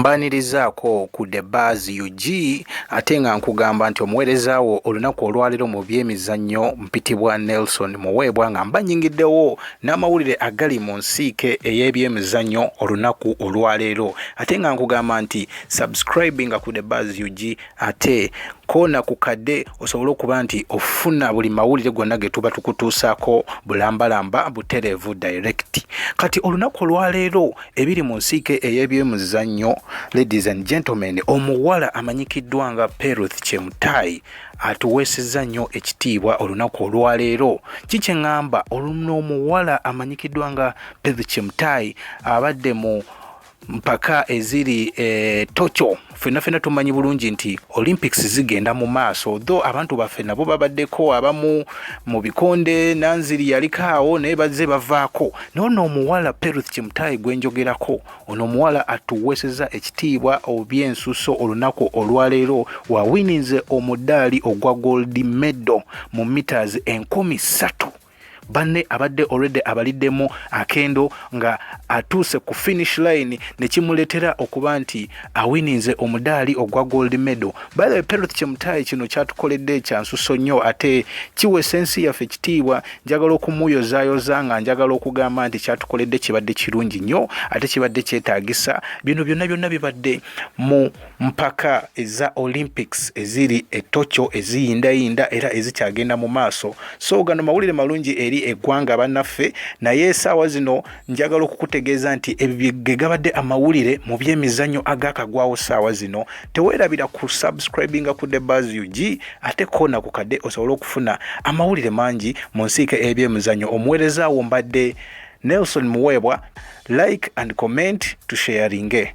mbanirizaako ku the bars ug ate nga nkugamba nti omuweereza wo olunaku olwaleero mu byemizannyo mpitibwa nelson muweebwa nga mbanyingiddewo n'amawulire agali mu nsiike ey'ebyemizannyo olunaku olwaleero ate nga nkugamba nti subscribing ku the bars ug ate koona ku kadde osobole okuba nti ofuna buli mawulire gonna ge tuba tukutuusaako bulambalamba butereevu direct kati olunaku olwaleero ebiri mu nsiike ey'ebyemuzannyo ladies and gentlemen omuwala amanyikiddwa nga peruth kyemutaayi atuweesezza nnyo ekitiibwa olunaku olwaleero kikye ŋŋamba oluno omuwala amanyikiddwa nga peth kimtai abadde mu mpaka eziri e, tokyo fenna fenna tumanyi bulungi nti olympics zigenda mu maaso tho abantu baffe nabo babaddeko abamu mu bikonde nanziri yaliko awo naye bazze bavaako naye ono omuwala peruth kimutayi gwenjogerako ono omuwala atuweeseza ekitiibwa obyensuso olunaku olwaleero wawininze omudaali ogwa gold medo mu meters enkumi ssatu banne abadde already abaliddemu akendo nga atuuse ku finish line nekimuletera okuba nti awininze omudaali ogwa gold medal bale perth kyemutaayi kino kyatukoledde ekyansuso nnyo ate kiwesa ensi yaffe ekitiibwa njagala okumuyozayoza nga njagala okugamba nti kyatukoledde kibadde kirungi nnyo ate kibadde kyetaagisa bino byonna byonna bibadde mu mpaka eza olympics eziri e tokyo eziyindayinda era ezikyagenda mu maaso so gano mawulire malungi eri eggwanga bannaffe naye esaawa zino njagala okukutegeeza nti ebyo ge gabadde amawulire mu byemizannyo agakagwawo saawa zino teweerabira ku subscribinga ku the bas ug ate koona ku kadde osobole okufuna amawulire mangi mu nsiika ebyemizannyo omuweerezaawo mbadde nelson muweebwa like and comment tusheyaringe